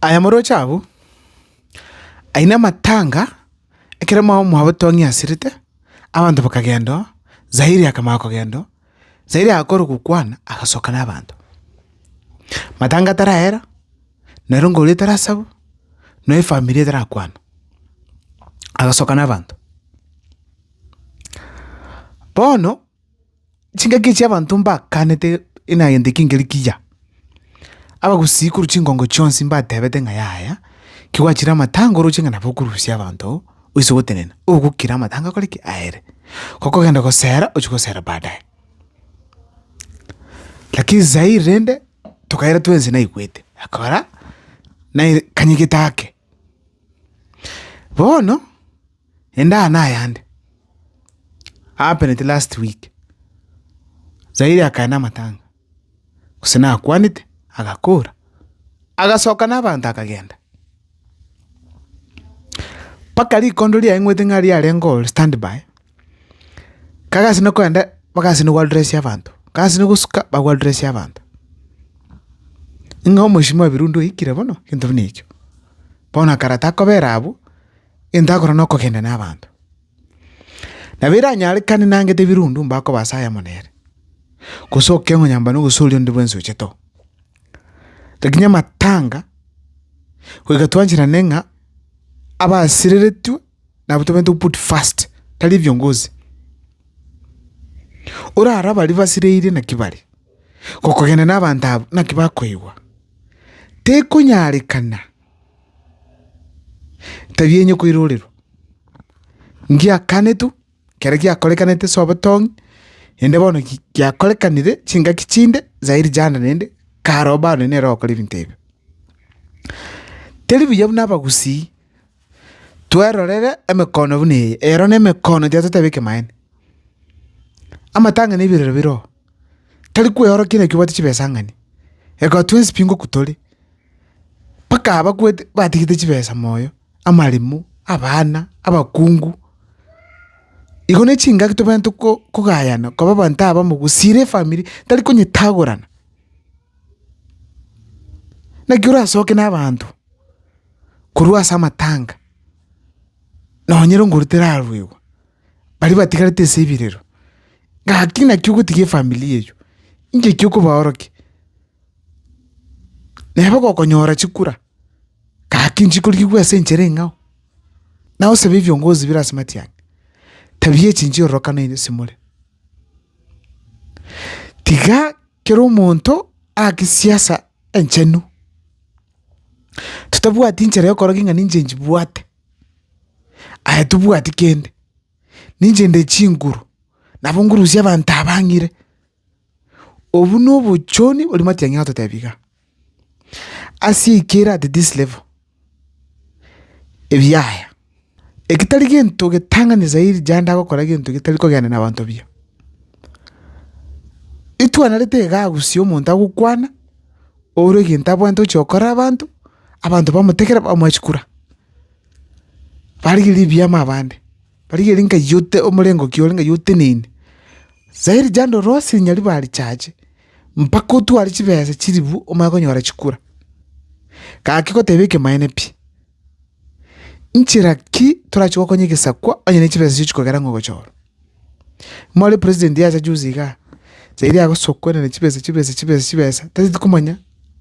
Aye moroche abwo, aine amatanga, ekero mao mwabo Tong'i asirete, abanto bakagenda oo, Zairi akamanya kogenda oo, Zairi agakorwa gokwana, agasoka na abanto. Matanga tarahera, nero ngori etarasabu, no efamiri etarakwana, agasoka na abanto. Bono. chingaki chi'abanto mbakanete enagenda eke nkeri kiya. Abagusii korwa chingongo chionsi mbatebete ng'a yaya, kigwachire amatango oroche ng'a nabo okorusia abanto oise gotenena, ogokira amatango akore ki? Aere. Gokogenda gosera ochie gosera baadaye. Lakini sahii rende, tokaira twensi naigwete, akora, naye kanyegete ake. Bono, ende aa nayande, happened last week, Zaire akagenda na amatanga, gose nakwanete, agakora, agasoka na abanto akagenda, mpaka rikondo riaye ng'wete ng'a riarenge oo standby. Kagasinwe kogenda bagasinwe gwaruresia abanto, kagasinwe gosuka bagwaruresia abanto. Ng'a omochenu wa birundu oikire bono, egento buna echio. Bono akara takobera abwo, egento akora na okogenda na abanto. Nabo eranyarekane nangete birundu mbakoba ase ayemo nere, gose okeng'onya mbane ogosoria onde bwensi ochete oo. Lakini amatanga, goika twancherane ng'a abasireretwe. nabo tobwenerete goput first tari viongozi. Orare abaria basireire naki bare gokogenda na abanto abwo naki bakoigwa. Tekonyarekana etabia enye koirorerwa ngiakanetwe ekero giakorekanete ase obotong'e ende bono giakorekanire chingaki chinde zaidi jana naende kare obarore nere ogokora ebinto ebio. Teri buya buna abagusii. Twerorere emekono buna eye, eyero nemekono tia totebe ekemaene. Amatang'ani ebirero bire oo, tari kweorokia naki obwate chibesa ang'ani, reka twensi pi ngoku tore, mpaka abakwete batigete chibesa moyo, amaremo, abana, abakungu. Igo ne chingaki tobwenerete ko- kogayana koba abanto abamo gose ere efamiri tari konyetagorana. Naki orasoke na abanto. korwa ase amatanga, nonye rongoro teraruegwa, baria batigarete ase ebirero, gaki naki ogotiga efamilia eywo, inche ki okobaorokia? Nabo gokonyora chikura, gaki nchikorigigwa ase enchera eng'ao, naye osabe ebiongozi bire ase matiang'a, tabia echi nchiororokano ere ase more. Tiga. Kera omonto ake siasa enchenu, totabwati nchera y'okora ki ng'a ninche nchibwate, aye tobwati kende, ninche nde chinguru, nabo ngurusie abanto aba ng'ire. Obwo nobochoni bw'amatiang'ina ototebia igaa. Ase ekero at this level ebiaya eki tari gento getang'ani zaidi jande agokora gento getari kogenderana nabanto buya. Itwanarete iga agusie omonto agokwana ore egento abwate ochi gokorera abanto, abanto bamotegerera bamwachikura, barigereria ebiama abande. Barigerie nkaiyute omorengo kiore ngaiyo oteneine. Saa rijando rose rinyari barichache, mpaka otware chibesa chiribu omanye konyora chikura. Gaki goteba ekemaene pi. Nchera ki torache gokonya egesakwa onye ne chibesa chio chikogera ng'a ogochorwa? More president yacha juzi igaa, saa eria agosokwa na chibesa chibesa chibesa chibesa tari tikomanya.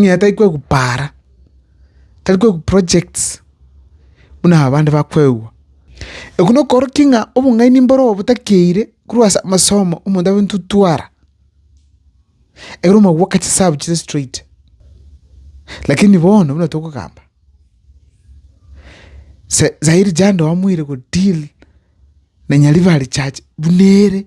ng'a tari kwegwa paara, tari kwegwa projects buna abande bakwegwa. Ekero nakoorokia ng'a obong'aini mboro botakeire korwa ase amasomo omonto abe ntutwara, ekero omogweka chisabu chire straight. Lakini bono buna tokogamba, sa- sairi jando amoire godeal na nyaribari chache buna ere